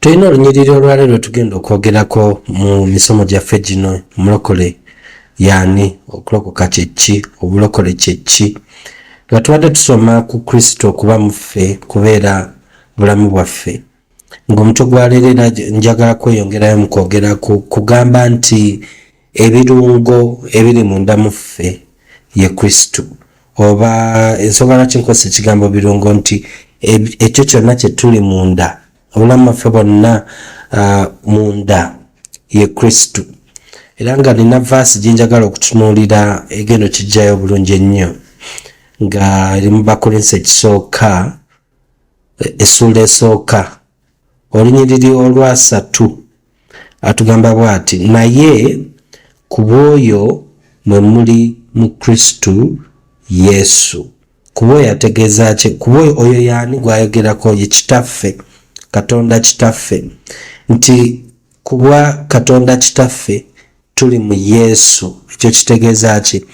tulina olunyiriri olwaleero lwetugenda okwogerako mu misomo gyaffe gino omulokole yaani okulokoka kyekki obulokole kyekki nga tubadde tusoma ku kristo okuba muffe kubeera bulamu bwaffe ng'omutwe gwaleero era njagala kweyongerayo mu kwogera kugamba nti ebirungo ebiri munda mu ffe ye kristo oba ensonga lwaki nkozesa ekigambo birungo nti ekyo kyonna kyetuli munda obulamu baffe bwonna uh, munda ye kristo era nga nina vaasi gyenjagala okutunuulira egendo kijjayo obulungi ennyo nga eri mu bakolinsi ekisooka essuula esooka olunyiriri olwasatu atugamba bwati naye ku bw'oyo mwe muli mu kristu yesu kuba oyo ategeeza ki kuba oyo oyo yaani gwayogerako ye kitaffe katonda kitaffe nti kubwa katonda kitaffe tuli mu Yesu. Ekyo kitegeeza ki?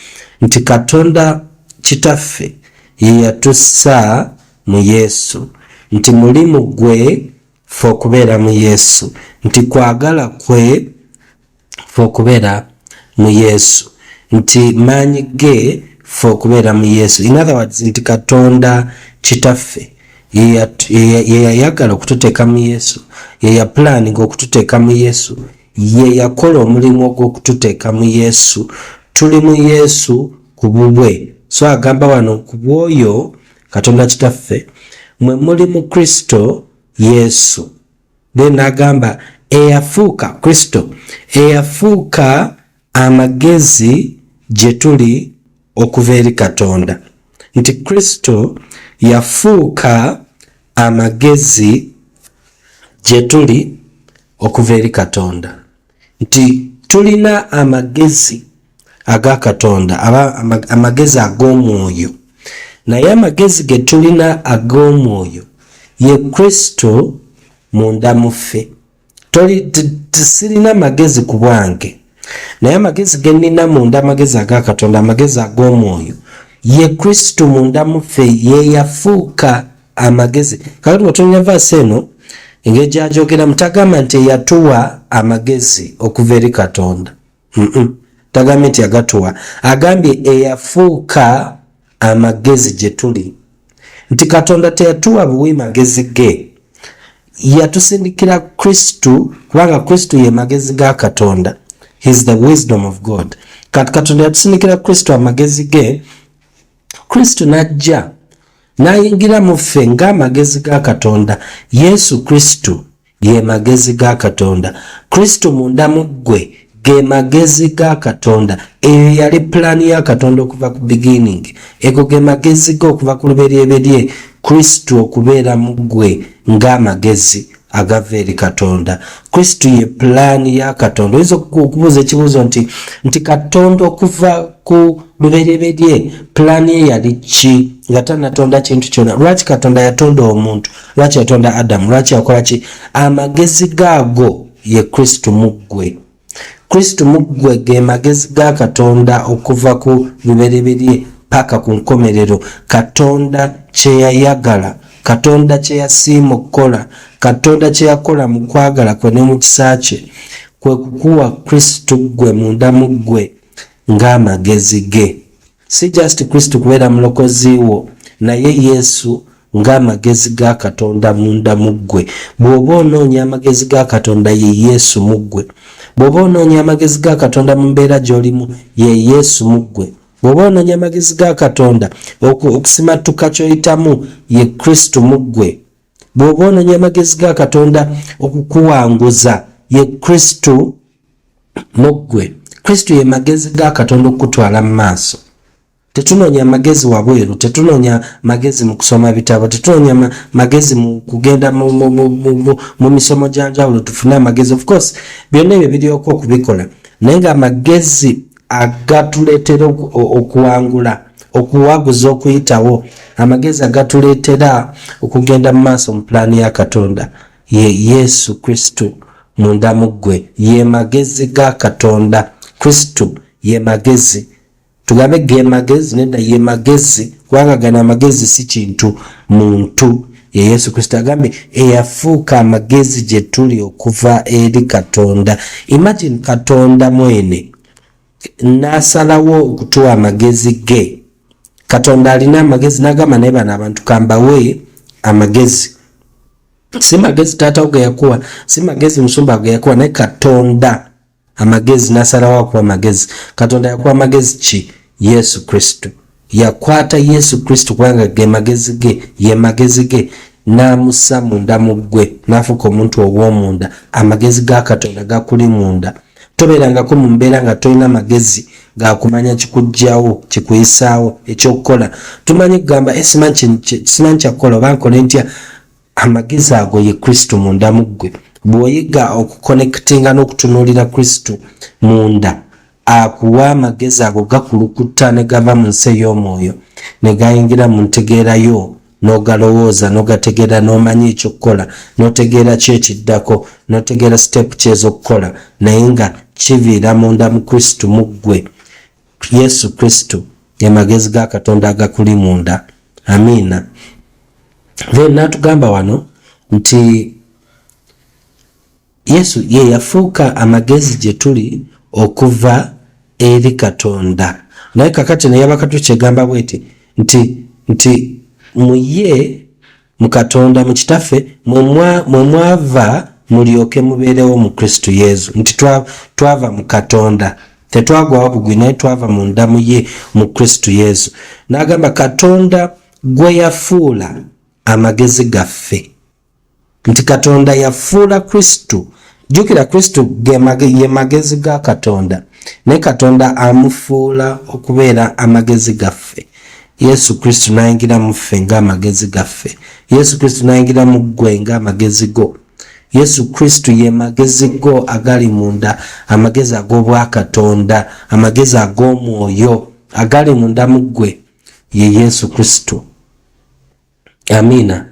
Nti Katonda Kitaffe ye yatussa mu Yesu, nti mulimu gwe fe okubeera mu Yesu, nti kwagala kwe fe okubeera mu Yesu, nti maanyi ge fe okubeera mu Yesu. In other words, nti Katonda Kitaffe ye yayagala okututeeka mu Yesu, ye yapulaninga okututeeka mu Yesu, Ye yakola omulimu ogw'okututeeka mu Yesu. Tuli mu Yesu ku bubwe. So agamba wano ku bw'oyo Katonda Kitaffe, mwe muli mu Kristo Yesu. Then n'agamba eyafuuka Kristo, eyafuuka Amagezi gye tuli okuva eri Katonda nti Kristo yafuuka amagezi gye tuli okuva eri Katonda nti tulina amagezi aga Katonda aba amagezi ag'omwoyo naye amagezi ge tulina ag'omwoyo ye Kristo munda mu ffe. toli sirina magezi ku bwange naye amagezi ge nnina munda amagezi aga katonda amagezi ag'omwoyo ye kristo munda muffe ye yafuuka amagezi kakati watonya vaasi eno engeri gyajogeramu tagamba nti eyatuwa amagezi okuva eri katonda tagambye nti agatuwa agambye eyafuuka amagezi gye tuli nti katonda teyatuwa buwi magezi ge yatusindikira kristu kubanga kristu ye magezi ga katonda his the wisdom of god kati katonda yatusindikira kristu amagezi ge kristu najja nayingira mu ffe ng'amagezi ga katonda yesu kristu ge magezi ga katonda kristo munda mu ggwe ge magezi ga katonda eyo yali pulaani ya katonda okuva ku beginning ego ge magezi ge okuva ku luberyeberye kristo okubeera mu ggwe ng'amagezi agava eri katonda kristo ye pulaani ya katonda oyinza okubuuza ekibuuzo nti nti katonda okuva ku luberyeberye pulaani ye yali ki nga tanatonda kintu kyona lwaki katonda yatonda omuntu lwaki yatonda adamu lwaki yakola ki amagezi gaago ye kristo muggwe kristo muggwe ge magezi ga katonda okuva ku lubereberye paka ku nkomerero katonda kyeyayagala katonda kyeyasiima okukola katonda kyeyakola mu kwagala kwe ne mu kisa kye kwe kukuwa kristo ggwe mundamu ggwe ng'amagezi ge Si just Kristo kubeera mulokozi wo, naye Yesu ng'amagezi ga Katonda munda mu ggwe. Bw'oba onoonya amagezi ga Katonda, ye Yesu mu ggwe. Bw'oba onoonya amagezi ga Katonda mu mbeera gy'olimu, ye Yesu mu ggwe. Bw'oba onoonya amagezi ga Katonda okusimattuka ky'oyitamu, ye Kristo mu ggwe. Bw'oba onoonya amagezi ga Katonda okukuwanguza, ye Kristo mu ggwe kristo ye magezi ga katonda okukutwala mu maaso tetunoonya magezi wabweru tetunoonya magezi mu kusoma bitabo tetunoonya magezi mu kugenda mu misomo gya njawulo tufune amagezi of course byonna ebyo biryoka okubikola naye nga amagezi agatuleetera okuwangula okuwaguza okuyitawo amagezi agatuleetera okugenda mu maaso mu pulaani ya katonda ye yesu kristo munda mu ggwe ye magezi ga katonda kristo ye magezi tugambe ge magezi nedda ye magezi kubanga gano amagezi si kintu muntu ye yesu kristo agambye eyafuuka amagezi gye tuli okuva eri katonda imagine katonda mwene n'asalawo okutuwa amagezi ge katonda alina amagezi n'agamba naye bano abantu kambawe amagezi si magezi taata wo geyakuwa si magezi musumba geyakuwa naye katonda amagezi nasalawo akuwa magezi katonda yakuwa magezi ki yesu kristo yakwata yesu kristo kubanga ge magezi ge ye magezi ge n'amussa munda mu ggwe n'afuuka omuntu ow'omunda amagezi ga katonda gakuli munda tobeerangako mu mbeera nga tolina magezi gakumanya kikugjawo kikuyisaawo ekyokukola tumanyi kugamba eh, simanyi kyakukola oba nkole ntya amagezi ago ye kristo munda mu ggwe bw'oyiga okukonekitinga n'okutunuulira kristo munda akuwa amagezi ago gakulukutta ne gava mu nsi ey'omwoyo ne gayingira mu ntegeerayo nogalowooza nogategeera nomanya ekyokukola notegeera ki ekiddako notegeera siteepu ki ezokukola naye nga kiviira munda mu kristo mu ggwe yesu kristo emagezi ga katonda agakuli munda amiina then natugamba wano nti Yesu ye yafuuka amagezi gye tuli okuva eri Katonda. Naye kakati ne yabakatu kyegamba bweti nti nti mu ye mu Katonda mu kitaffe mwe mwava mulyoke mubeerewo mu Kristo Yesu nti twava mu Katonda tetwagwawo bugwi naye twava mu ndamu ye mu Kristo Yesu. N'agamba Katonda gwe yafuula amagezi gaffe. nti katonda yafuula kristo jjukira kristo ye magezi ga katonda naye katonda amufuula okubeera amagezi gaffe yesu kristo nayingira mu ffe ng'amagezi gaffe yesu kristo nayingira mu ggwe ng'amagezi go yesu kristo ye magezi go agali munda amagezi ag'obwakatonda amagezi ag'omwoyo agali munda mu ggwe ye yesu kristo amiina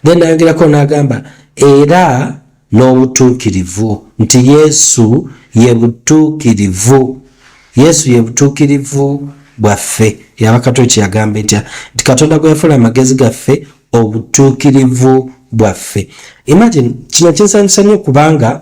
then nayongerako n'agamba era n'obutuukirivu nti yesu ye butuukirivu yesu ye butuukirivu bwaffe yabakato kyeyagamba etya nti katonda gwe yafuula amagezi gaffe obutuukirivu bwaffe imagine kino kinsanyusa nnyo kubanga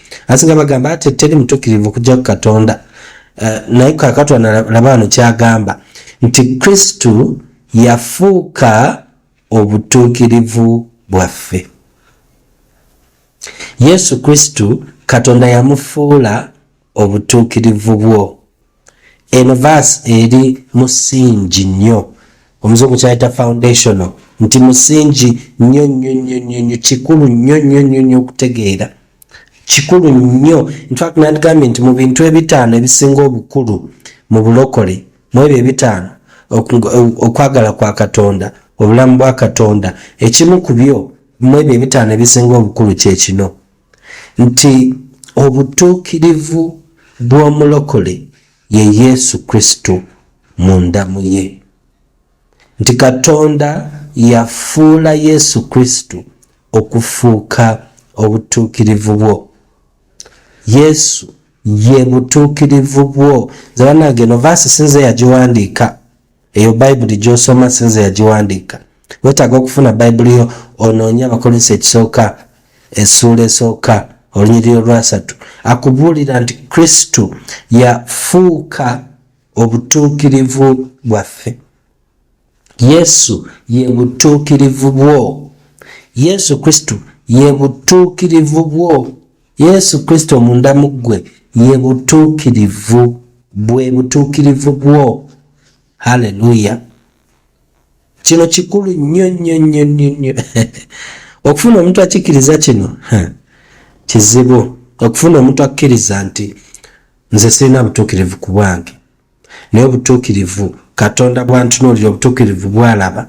asinga bagamba ate teri mutukirivu kujja ku katonda uh, naye kakatwa nalaba wano kyagamba nti kristu yafuuka obutuukirivu bwaffe yesu kristu katonda yamufuula obutuukirivu bwo eno verse eri musingi nnyo omuzungu kyayita foundational nti musingi nnyo nnyo nnyo nnyo nnyo kikulu nnyo nnyo nnyo nnyo okutegeera kikulu nnyo infact nandigambye nti mu bintu ebitaano ebisinga obukulu mu bulokole mu ebyo ebitaano okwagala kwa katonda obulamu bwa katonda ekimu ku byo mu ebyo ebitaano ebisinga obukulu kyekino nti obutuukirivu bw'omulokole ye Yesu Kristo mu ndamu ye, nti Katonda yafuula Yesu Kristo okufuuka obutuukirivu bwo. Yesu ye butuukirivu bwo. Nze banange no vaasi sinze yagiwandiika eyo bayibuli gyosoma sinze yagiwandiika wetaaga okufuna bayibuli yo onoonye abakolinso ekisooka essuula esooka olunyiriri olwasatu akubuulira nti kristo yafuuka obutuukirivu bwaffe yesu ye butuukirivu bwo yesu kristo ye butuukirivu bwo Yesu Kristo munda mu ggwe ye butuukirivu bwe butuukirivu bwo. Haleluya! Kino kikulu nnyo nnyo nnyo nnyo nnyo okufuna omuntu akikkiriza kino kizibu okufuna omuntu akkiriza nti nze sirina butuukirivu ku bwange naye obutuukirivu katonda bwantunuulira obutuukirivu bwalaba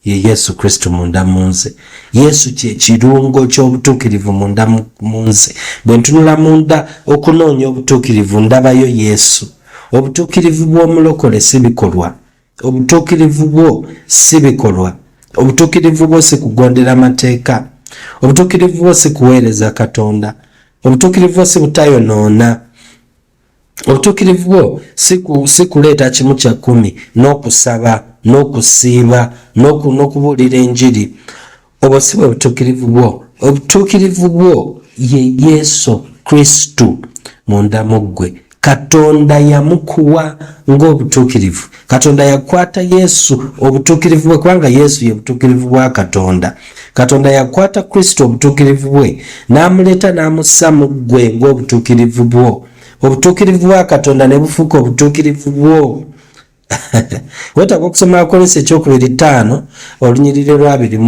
ye yesu kristo munda mu nze yesu kyekirungo ky'obutuukirivu munda mu nze bwe ntunula munda okunoonya obutuukirivu ndabayo yesu obutuukirivu bw'omulokole si bikolwa obutuukirivu bwo si bikolwa obutuukirivu bwo si kugondera mateeka obutuukirivu bwo si kuweereza katonda obutuukirivu bwo si butayonoona obutuukirivu bwo si kuleeta kimu kya kkumi n'okusaba n'okusiiba n'okubuulira enjiri obwo si bwe butuukirivu bwo obutuukirivu bwo ye yesu kristo munda mu ggwe katonda yamukuwa ng'obutuukirivu katonda yakwata yesu obutuukirivu bwe kubanga yesu ye butuukirivu bwa katonda katonda yakwata kristo obutuukirivu bwe n'amuleeta n'amussa mu ggwe ng'obutuukirivu bwo obutuukirivu bwa katonda ne bufuuka obutuukirivu bwo wetaaga okusoma akolesa ekyokubiri ttaano olunyiriri lwa abiri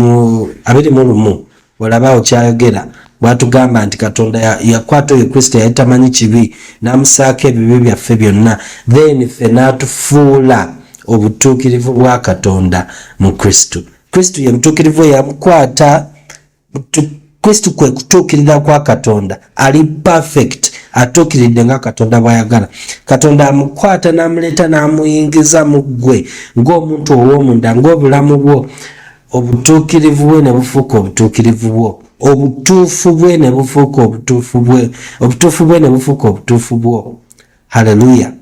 mu lumu olabaawo kyayogera bwatugamba nti katonda yakwata oyo kristo yali tamanyi kibi n'amusaako ebibi byaffe byonna then ffe n'atufuula obutuukirivu bwa katonda mu kristo kristo ye butuukirivu eyamukwata kristo kwe kutuukirira kwa katonda ali perfect atuukiridde nga katonda bwayagala katonda amukwata n'amuleeta n'amuyingiza mu ggwe ng'omuntu ow'omunda ng'obulamu bwo obutuukirivu bwe ne bufuuka obutuukirivu bwo obutuufu bwe ne bufuuka obutuufu bwe obutuufu bwe ne bufuuka obutuufu bwo haleluya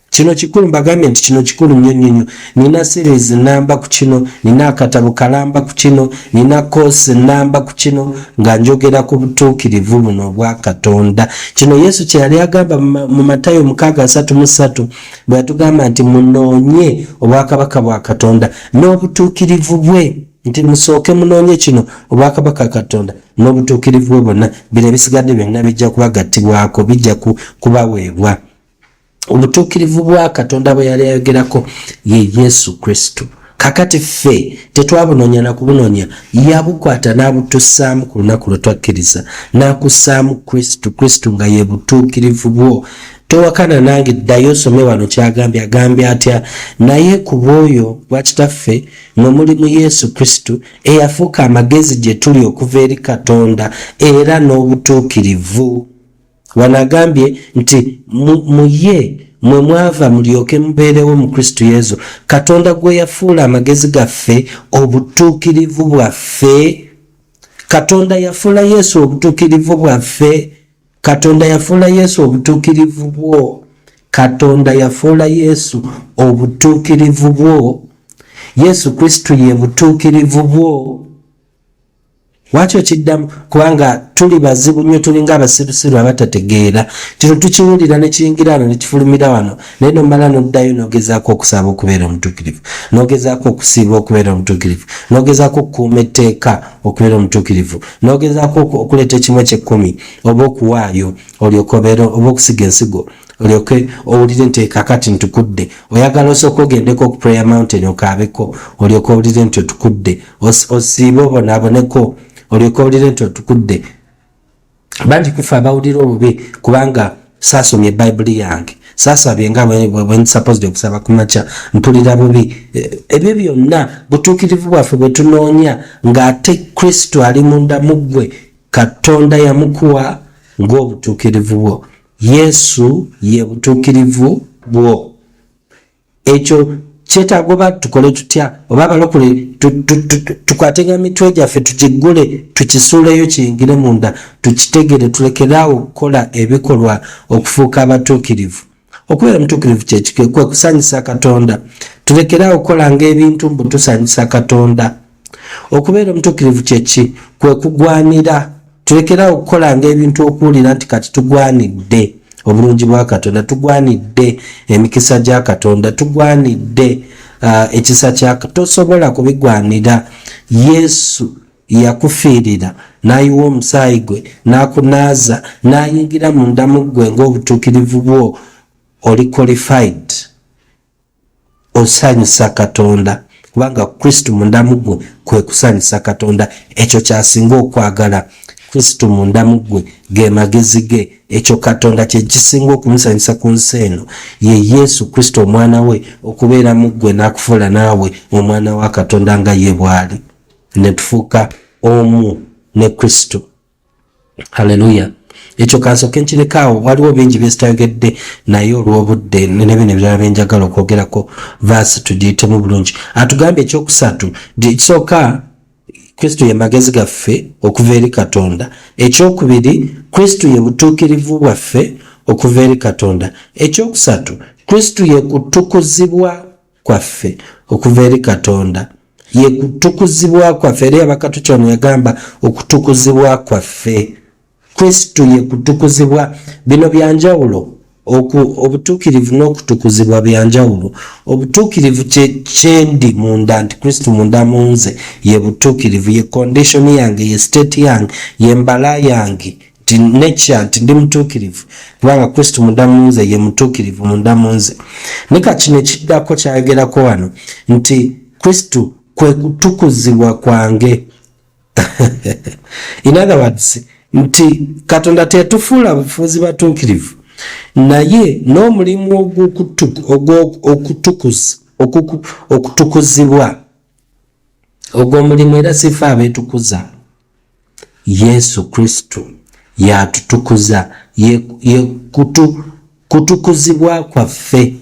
kino kikulu mbagambye nti kino kikulu nnyo nnyo nnyo nina series namba ku kino nina akatabo kalamba ku kino nina koosi namba ku kino nga njogera ku butuukirivu buno obwa katonda kino yesu kye yali agamba mu matayo mukaaga asatu mu ssatu bwe yatugamba nti munoonye obwakabaka bwa katonda n'obutuukirivu bwe nti musooke munoonye kino obwakabaka katonda n'obutuukirivu bwe bonna bino ebisigadde byonna bijja kubagattibwako bijja kubaweebwa obutuukirivu bwa katonda bwe yali ayogerako ye yesu kristo kakati ffe tetwabunoonya na kubunoonya yabukwata n'abutussaamu ku lunaku lwe twakkiriza n'akussaamu kristo kristo nga ye butuukirivu bwo towakana nange ddayo osome wano kyagambye agambye atya naye ku bwoyo bwa kitaffe mwe muli mu yesu kristo eyafuuka amagezi gye tuli okuva eri katonda era n'obutuukirivu wano agambye nti mu ye mwe mwava mulyoke mubeerewo mu kristo yesu katonda gwe yafuula amagezi gaffe obutuukirivu bwaffe katonda yafuula yesu obutuukirivu bwaffe katonda yafuula yesu obutuukirivu bwo katonda yafuula yesu obutuukirivu bwo yesu kristu ye butuukirivu bwo lwaki okiddamu kubanga tuli bazibu nnyo tulinga abasirusiru abatategeera kino tukiwulira nekiyingira wano nekifulumira wano naye nomala noddayo nogezaako okusaba okubeera omutuukirivu nogezaako okusiiba okubeera omutuukirivu nogezaako okukuuma etteeka okubeera omutuukirivu n'ogezaako okuleeta ekimu ekyekkumi oba okuwaayo olyoke obeera oba okusiga ensigo olyoke owulire nti kakati ntukudde oyagala osooka ogendeko ku prayer mountain okaabeko olyoke owulire nti otukudde osiibe obonaaboneko olyoke owulire nti otukudde bangi kufe abawulira obubi kubanga saasomye bayibuli yange saasabye nga bwensapozde okusaba ku makya mpulira bubi eh, ebyo byonna butuukirivu bwaffe bwe tunoonya ng'ate kristo ali munda mu ggwe katonda yamukuwa ng'obutuukirivu bwo yesu ye butuukirivu bwo ekyo kyetaaga oba tukole tutya oba abalokole tukwatenga mitwe gyaffe tukiggule tukisuuleyo kiyingire munda tukitegere tulekeraawo okukola ebikolwa okufuuka abatuukirivu okubeera mutuukirivu kyekikwe kwe kusanyusa katonda tulekeraawo okukolanga ebintu mbu tusanyusa katonda okubeera omutuukirivu kyeki kwe kugwanira tulekerawo okukolanga ebintu okuwulira nti kati tugwanidde obulungi bwa katonda tugwanidde emikisa gya katonda tugwanidde uh, ekisa kya tosobola kubigwanira yesu yakufiirira n'ayiwa omusaayi gwe n'akunaaza n'ayingira mu ndamu ggwe ng'obutuukirivu bwo oli qualified osanyusa katonda kubanga kristo mundamu gwe kwe kusanyusa katonda ekyo kyasinga okwagala kristo mundamu gwe ge magezi ge ekyo katonda kyekisinga okumusanyusa ku nsi eno ye yesu kristo omwana we okubeera mu ggwe n'akufuula naawe omwana wa katonda nga ye bw'ali ne tufuuka omu ne kristo haleluya ekyo kansoke nkirekaawo waliwo bingi byesitayogedde naye olw'obudde nebino ebirala byenjagala okwogerako vaasi tugiyitemu bulungi atugambye ekyokusatu ekisooka kristo ye magezi gaffe okuva eri katonda ekyokubiri kristo ye butuukirivu bwaffe okuva eri katonda ekyokusatu kristo ye kutukuzibwa kwaffe okuva eri katonda ye kutukuzibwa kwaffe era yabakatucon yagamba okutukuzibwa kwaffe kristu ye kutukuzibwa bino byanjawulo obutuukirivu n'okutukuzibwa byanjawulo obutuukirivu kyendi munda nti kristu munda munze ye butuukirivu ye kondishoni yange ye state yange ye mbala yange nti nekya nti ndi mutuukirivu kubanga kristo munda munze ye mutuukirivu munda munze ne kakino ekiddako kyayogerako wano nti kristo kwe kutukuzibwa kwange in other words nti katonda tetufuula bufuuzi batuukirivu naye n'omulimu ogwokutukuza okutukuzibwa ogwo omulimu era sifa abeetukuza yesu kristo yatutukuza ye, ye kutu, kutukuzibwa kwaffe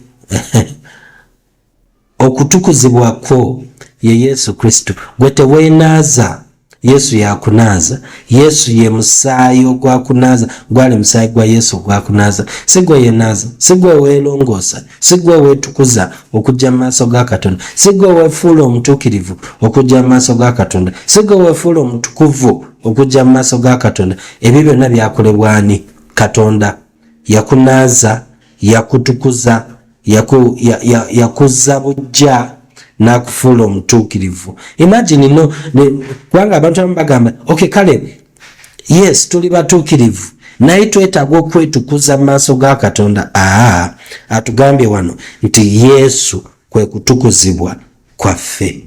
okutukuzibwa kwo ye yesu kristo gwe teweenaaza yesu yakunaaza yesu ye musaayi ogwakunaaza gwali musaayi gwa yesu ogwakunaaza si gwe yenaaza si gwe weelongoosa sigwe wetukuza okujja mu maaso ga katonda sigwe wefuula omutuukirivu okujja mu maaso ga katonda sigwe wefuula omutukuvu okujja mu maaso ga katonda ebyo byonna byakolebwani katonda yakunaaza yakutukuza yaku, ya, ya, yakuzza bujja n'akufuula omutuukirivu imagine no kubanga abantu abamu bagamba okay kale yes tuli batuukirivu naye twetaaga okwetukuza mu maaso ga katonda aa atugambye wano nti yesu kwe kutukuzibwa kwaffe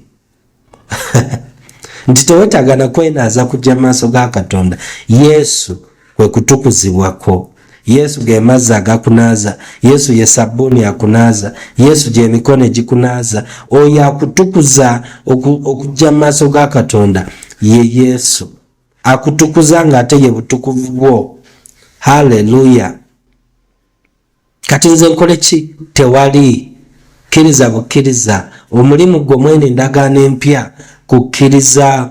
nti tewetaaga nakwenaaza kujja mu maaso ga katonda yesu kwe kutukuzibwako Yesu ge mazzi agakunaaza, Yesu ye sabbuuni akunaaza, Yesu gy'emikono egikunaaza. Oyo akutukuza okujja mu maaso ga Katonda ye Yesu, akutukuza ng'ate ye butukuvu bwo. Haleluya! Kati nze nkole ki? Tewali. Kkiriza bukkiriza, omulimu gwo mwene endagaano empya kukkiriza.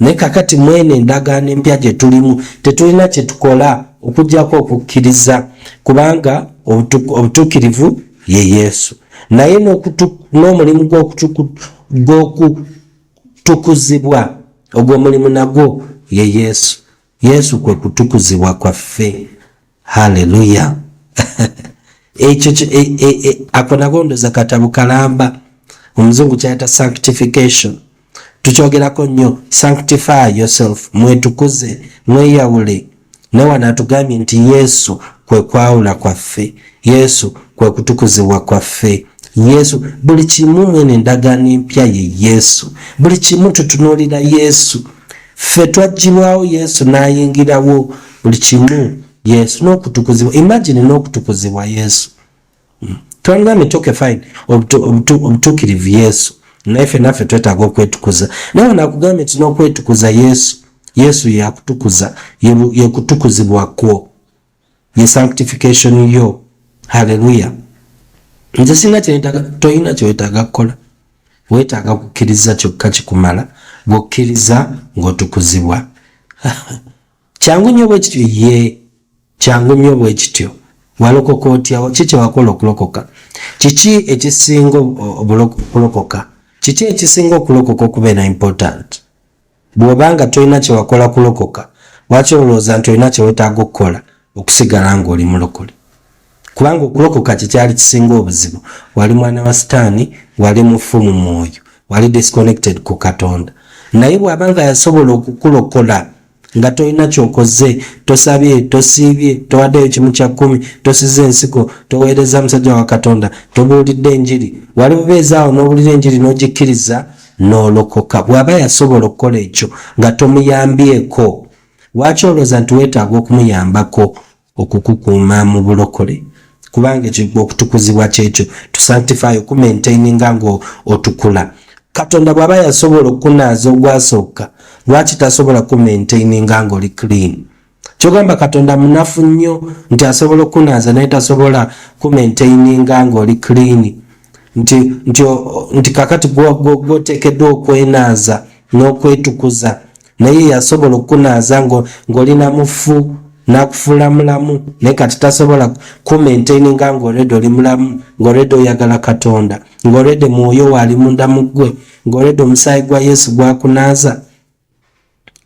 naye kakati mwene endagaano empya gye tulimu tetulina kye tukola okujjako okukkiriza kubanga obutuukirivu ye yesu naye n'omulimu gw'okutukuzibwa ogwo omulimu nagwo ye yesu yesu kwe kutukuzibwa kwaffe haleluya ekyo e, e, e, ako nagondoza katabu kalamba omuzungu kyayita sanctification tukyogerako nnyo sanctify yourself mwetukuze mweyawule naye wano atugambye nti yesu kwe kwawula kwaffe yesu kwe kutukuzibwa kwaffe yesu buli kimu mwene endagaano empya ye yesu buli kimu tutunuulira yesu ffe twajjirwawo yesu n'ayingirawo buli kimu yesu n'okutukuzibwa imagine n'okutukuzibwa yesu hmm. twalina mitoke fine obutukirivu yesu naye ffe naffe twetaaga okwetukuza naye onakugambye nti n'okwetukuza yesu yesu yakutukuza yekutukuzibwa kwo ye sanctification yo haleluya nze sina kyetaga toyina kyetaga kukola wetaaga kukkiriza kyokka kikumala bwokkiriza ng'otukuzibwa kyangu nnyo bwe kityo ye kyangu nnyo bwe kityo walokoka otyawo ki kyewakola okulokoka kiki ekisinga okulokoka kiki ekisinga okulokoka okubeera important Bw'oba nga tolina kye wakola kulokoka, lwaki olowooza nti olina kye weetaaga okukola okusigala ng'oli mulokole? Kubanga okulokoka kye kyali kisinga obuzibu. Wali mwana wa Sitaani, wali mufu mu mwoyo, wali disconnected ku Katonda. Naye bw'aba nga yasobola okukulokola nga tolina kyokoze, tosabye, tosiibye, towaddeyo kimu kya kkumi, tosize ensigo, toweereza musajja wa Katonda, tobuulidde njiri, wali bubeezi awo n'owulira enjiri n'ogikkiriza, n'olokoka bw'aba yasobola okukola ekyo nga tomuyambyeko lwaki olowooza nti weetaaga okumuyambako okukukuuma mu bulokole kubanga ekyo okutukuzibwa kyekyo to sanctify okumaintaininga nga otukula katonda bw'aba yasobola okukunaaza ogwasooka lwaki tasobola kumaintaininga nga oli clean kyogamba katonda munafu nnyo nti asobola okunaaza naye tasobola kumaintaininga ngaoli clean nti nti nti kakati gwoteekeddwa okwenaaza n'okwetukuza naye yasobola okukunaaza ng'oli na mufu n'akufuula mulamu naye kati tasobola kumaintaininga ng'olredi oli mulamu ng'olredi oyagala katonda ng'olredi mwoyo waali munda mu ggwe ng'olredi omusaayi gwa yesu gwakunaaza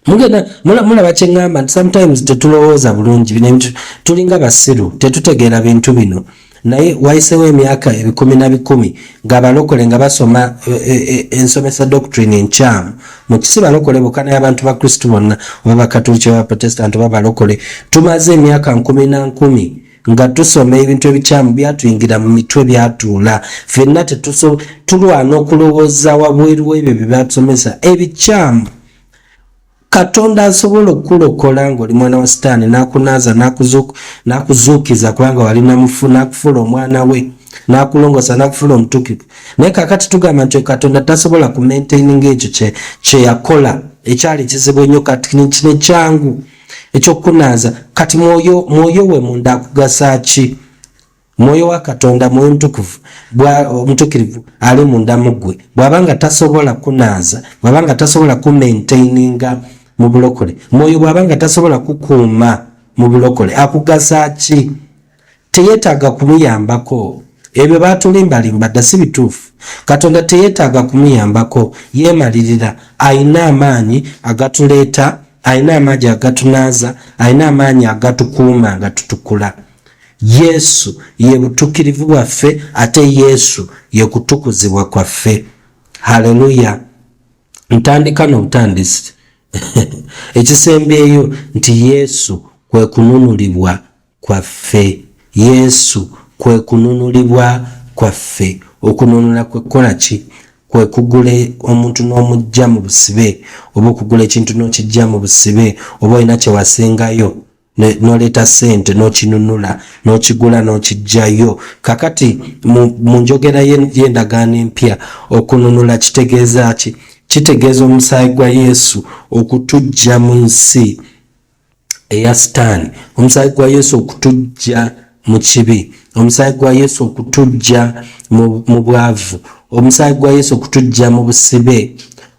mugenda mulaba kyeŋŋamba nti sometimes tetulowooza bulungi bino ebintu tulinga basiru tetutegeera bintu bino naye wayisewo emyaka ebikumi na bikumi ngaabalokole nga basoma eh, eh, eh, ensomesa doctrine enkyamu mukisi balokole bukana yabantu ba kristu bonna oba bakatuliki oba baprotestant oba balokole tumaze emyaka nkumi na nkumi nga tusoma ebintu ebikyamu byatuyingira mu mitwe byatuula fenna tulwana okulowooza wabweru webyo byebatusomesa ebikyamu katonda asobola okukulokola ngaoli mwana wa sitaani nakunaaza nakuzuukiza kubanga wali nakufuula omwana we nakulongosa nakufuula omutukivu naye kakati tugamba nti katonda tasobola kumaintaininga ekyo kyeyakola ekyali kizibu enyo kati kino kyangu ekyokunaaza kati mwoyo mwoyo we munda akugasa ki mwoyo wa katonda mwoyo mutukuvu omutukirivu ali munda muggwe bwaba nga tasobola kunaaza bwaba nga tasobola kumaintaininga mu bulokole mwoyo bwaba nga tasobola kukuuma mu bulokole akugasa ki teyetaaga kumuyambako ebyo batulimbalimba dda si bituufu katonda teyetaaga kumuyambako yeemalirira ayina amaanyi agatuleeta ayina amaanyi agatunaaza ayina amaanyi agatukuuma nga tutukula yesu ye butukirivu bwaffe ate yesu ye kutukuzibwa kwaffe haleluya ntandika n'obutandisi ekisembyeyo nti yesu kwe kununulibwa kwaffe. Yesu kwe kununulibwa kwaffe. Okununula kwe kukola ki? Kwe kugula omuntu n'omuggya mu busibe, oba okugula ekintu n'okiggya mu busibe, oba olina kye wasengayo n'oleeta ssente n'okinunula, n'okigula n'okiggyayo. Kakati mu njogera y'endagaano empya, okununula kitegeeza ki? Kitegeeza omusaayi gwa Yesu okutuggya mu nsi. eya sitaani omusaayi gwa yesu okutujja mu kibi omusaayi gwa yesu okutujja mu bwavu omusaayi gwa yesu okutujja mu busibe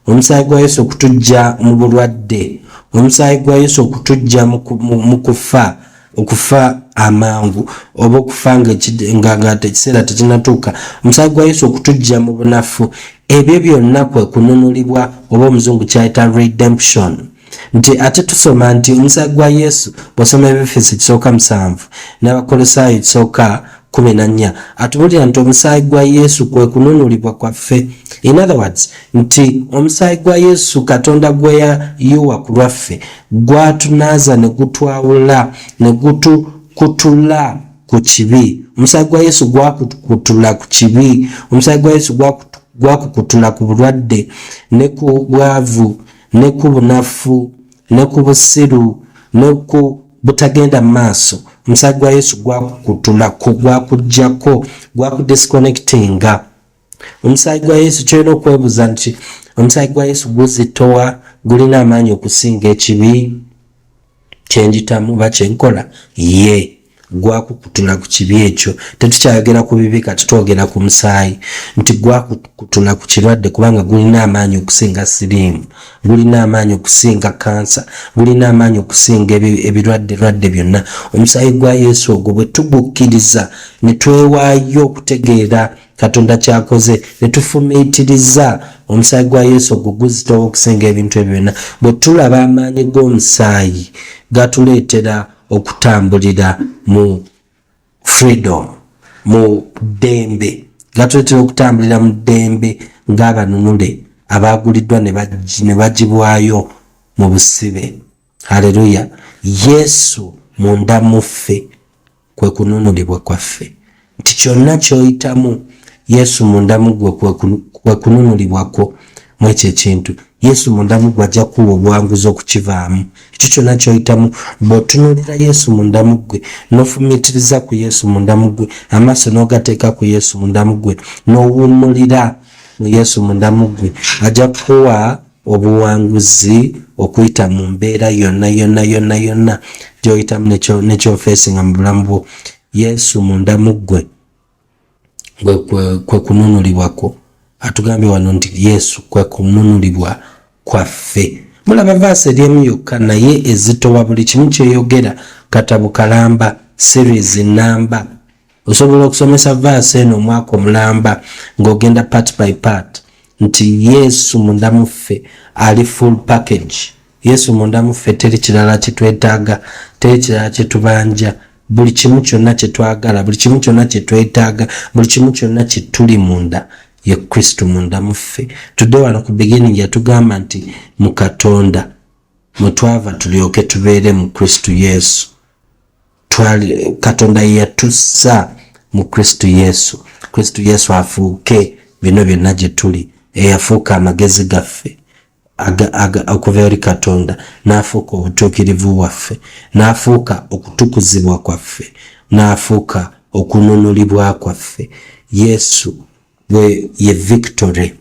omusaayi gwa yesu okutujja mu bulwadde omusaayi gwa yesu okutujja mu kufa okufa amangu oba okufa ngaekiseera tekinatuuka omusaayi gwa yesu okutujja mu bunafu ebyo byonna kwe kununulibwa oba omuzungu kyayita redemption nti ate tusoma nti omusaayi gwa yesu bwosoma ebifisi kisooka musanvu n'abakolosaayo kisooka kumi na nnya atubulira nti omusaayi gwa yesu kwe kununulibwa kwaffe in other words nti omusaayi gwa yesu katonda gwe yayiwa ku lwaffe gwatunaaza ne gutwawula ne gutukutula ku kibi omusaayi gwa yesu gwakukutula ku kibi omusaayi gwa yesu gwakukutula ku bulwadde ne ku bwavu gwa ne ku bunafu ne ku busiru ne ku butagenda mu maaso omusaayi gwa yesu gwakukutulako gwakujjako gwakudisconnectinga omusaayi gwa yesu kyolina okwebuuza nti omusaayi gwa yesu guzitowa gulina amaanyi okusinga ekibi kyenjitamu oba kyenkola ye gwakukutula ku kibi ekyo tetukyayogera ku bibi kati twogera ku musaayi nti gwakukutula ku kirwadde kubanga gulina amaanyi okusinga siriimu gulina amaanyi okusinga kansa gulina amaanyi okusinga ebirwadde rwadde byonna omusaayi gwa yesu ogwo bwe tugukkiriza ne twewaayo okutegeera katonda kyakoze netufumiitiriza omusaayi gwa yesu ogwo guzitowa okusinga ebintu ebyo byonna bwe tulaba amaanyi g'omusaayi gatuleetera okutambulira mu freedom mu ddembe gatuleetera okutambulira mu ddembe ng'abanunule abaaguliddwa ne bagibwayo mu busibe haleluya yesu munda muffe kwe kununulibwa kwaffe nti kyonna kyoyitamu yesu munda muggwe kwe kununulibwa kwo mwekyo ekintu yesu munda muggwe ajja kuwa obuwanguzi okukivaamu ekyo kyonna kyoyitamu bwotunulira yesu munda muggwe nofumitiriza ku yesu munda muggwe amaaso nogateeka ku yesu munda muggwe nowummulira mu yesu munda muggwe ajja kuwa obuwanguzi okuyita mu mbeera yonna yonna yonna yonna gyoyitamu nekyofeesinga mu bulamu bwo yesu munda mu ggwe kwe kununulibwa kwo atugambye wano nti yesu kwe kununulibwa kwaffe mulaba vaasi eri emu yokka naye ezitowa buli kimu kyeyogera katabo kalamba series namba osobola okusomesa vaasi eno omwaka omulamba ng'ogenda part by part nti yesu munda muffe ali full package yesu munda muffe teri kirala kitwetaaga teri kirala kyetubanja buli kimu kyonna kyetwagala buli kimu kyonna kyetwetaaga buli kimu kyonna kyetuli munda ye kristo munda muffe tudde wano ku beginning yatugamba nti mu katonda mwetwava tulyoke tubeere mu kristo yesu twali katonda yeyatussa mu kristo yesu kristo yesu afuuke bino byonna gye tuli eyafuuka amagezi gaffe okuva eri katonda n'afuuka obutuukirivu bwaffe n'afuuka okutukuzibwa kwaffe n'afuuka okununulibwa kwaffe yesu ye victory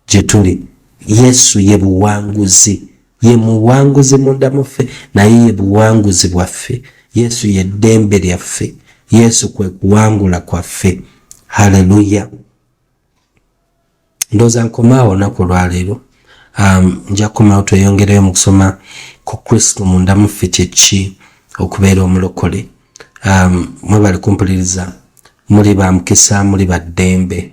Gyetuli. Yesu ye buwanguzi. Ye muwanguzi munda muffe, naye ye buwanguzi bwaffe. Yesu ye ddembe lyaffe. Yesu kwe kuwangula kwaffe. Haleluya! Ndooza nkomaawo olunaku olwaleero. Um, nja kukomawo tweyongereyo mu kusoma ku Kristo munda muffe kyeki okubeera omulokole. Um, mwebale kumpuliriza. Muli ba mukisa, muli ba ddembe.